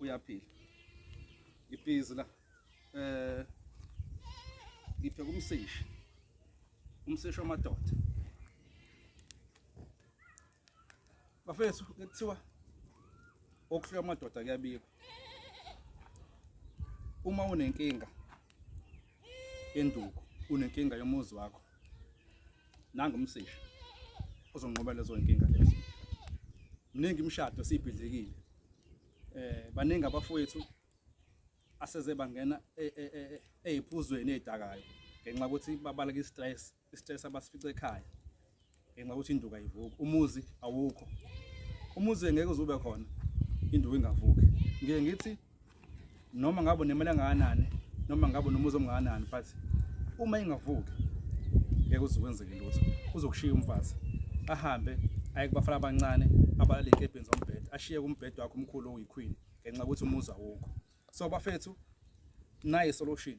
uyaphila ibhizi la eh ngiphe kumseshi umseshi wamadoda bafethu kuthiwa okuhlwa amadoda kuyabikwa uma unenkinga Induku unenkinga yomuzi wakho. Nangu umsisha uzonqoba lezo inkinga lezo. Mningi imishado sibhidlikile. Eh baningi abafowethu aseze bangena eziphuzweni e, e, e, ezidakayo ngenxa ukuthi babaleka istress istress abasifice ekhaya ngenxa ukuthi induka ivuka umuzi awukho umuzi ngeke uzube khona induka ingavuki ngiye ngithi noma ngabe nemali engakanani noma ngabe nomuzi omngakanani but uma ingavuki ngeke uzokwenzeke lutho uzokushiya umfazi ahambe aye kubafana abancane abalale enkebheni zombhede ashiye kumbhede wakhe umkhulu oyiqueen ngenxa ukuthi umuzi awukho so bafethu naye solution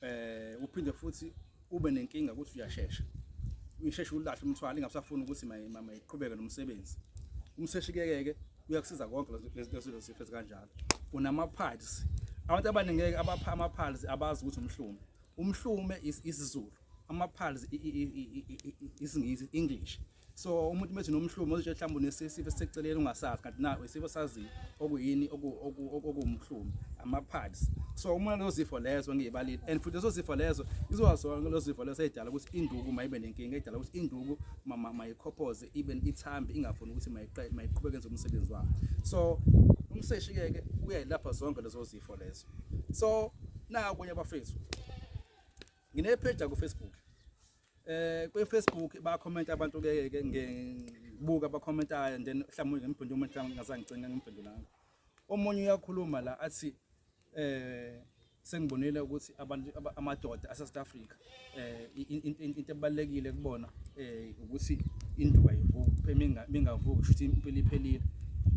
eh uphinde futhi ube nenkinga ukuthi uyashesha uyisheshe ulahle umthwalo ingabusafuni ukuthi mama iqhubeke nomsebenzi umseshi kekeke uyakusiza konke lezo zifo kanjalo unamaphiles abantu abaningi ngeke abapha amaphiles abazi ukuthi umhlume umhlume isizulu amaphiles isingisi english so umuntu methi nomhlumo uzitshe mhlawumbe unesifo esiseceleni ungasazi kanti na isifo sazi okuyini okumhlumo ama-pads so uma lezo zifo lezo ngiyibalile and futhi lezo zifo lezo izozona lezo zifo lezo eyidala ukuthi induku mayibe nenkinga eyidala ukuthi induku mayikhophoze ibe ithambi ingafuni ukuthi mayiqhubeke enze umsebenzi wayo so umseshi-ke uyayilapha zonke lezo zifo lezo so nakunye abafethu nginepheja kufacebook eh kwi Facebook ba comment abantu ke ke ngibuka ba commentayo then mhlawumbe ngimphinde umuntu mhlawumbe ngazangicinga ngimphendulanga omunye uyakhuluma la athi eh sengibonile ukuthi abantu amadoda ase South Africa eh into ebalekile kubona eh ukuthi induka ivuke mingavuki shuthi impilo iphelile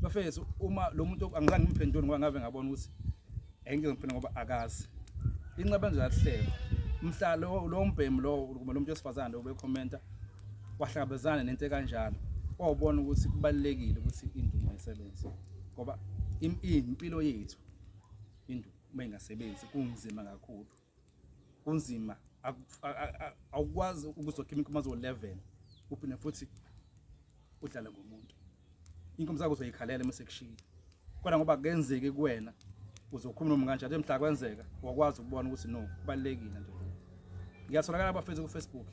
bafethu uma lo muntu angizange ngimphendule ngoba ngabe ngabona ukuthi engike ngifuna ngoba akazi inceba nje yahlelo mhla lo mbhemu lowo kumbe lo muntu wesifazane lowo bekhomenta wahlangabezana nento ekanjalo wawubona ukuthi kubalulekile ukuthi indumo isebenze ngoba impilo yethu indumo uma ingasebenzi kunzima kakhulu kunzima awukwazi ukuzokha imikhumba zo-11 uphinde futhi udlale ngomuntu inkomo zakho uzoyikhalela uma sekushiyile kodwa ngoba kenzeki kuwena uzokhuluma noma kanjani mhla kwenzeka wakwazi ukubona ukuthi no kubalekile nje ngiyatholakala abafethu ku Facebook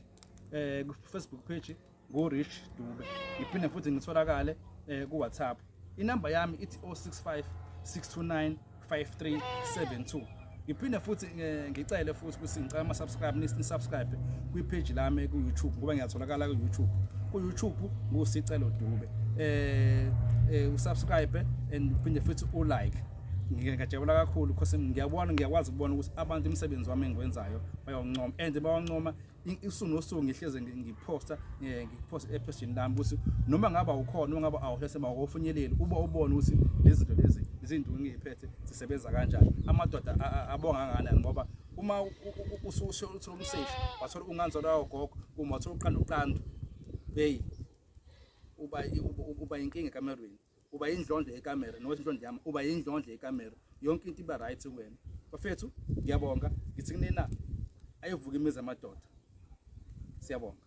eh ku Facebook page ngurish dube ngiphinde futhi ngitholakale um kuwhatsapp inamba yami ithi 065 629 5372 ngiphinde futhi eh, ngicele futhi ukuthi ngicela ama-subscribe nisubscribe kwipheji lami ku-youtube ngoba ngiyatholakala ku-youtube ku-youtube ngusicelo dube um um usubscribe and uphinde futhi ulike ngiyajabula kakhulu because ngiyabona ngiyakwazi ukubona ukuthi abantu imisebenzi wami engiwenzayo bayawancoma and bawancoma isuku nosuku ngihleze ngiphosta eh, ngiphosta epheshini lami ukuthi noma ngaba ukhona noma ngaba awuhlese bakofunyeleli uba ubone ukuthi lezi zinto lezi izinto ngiyiphethe zisebenza kanjani amadoda abonga kangakanani ngoba uma ususho uthola umseshi wathola unganzolo yawo gogo uma wathola uqanda uqanda hey uba uba inkinga kamelweni uba yindlondlo yekamera nowezinhlondlo yami uba yindlondlo yekamera yonke into iba right kuwena bafethu ngiyabonga ngithi kunina ayivuka imizi amadoda siyabonga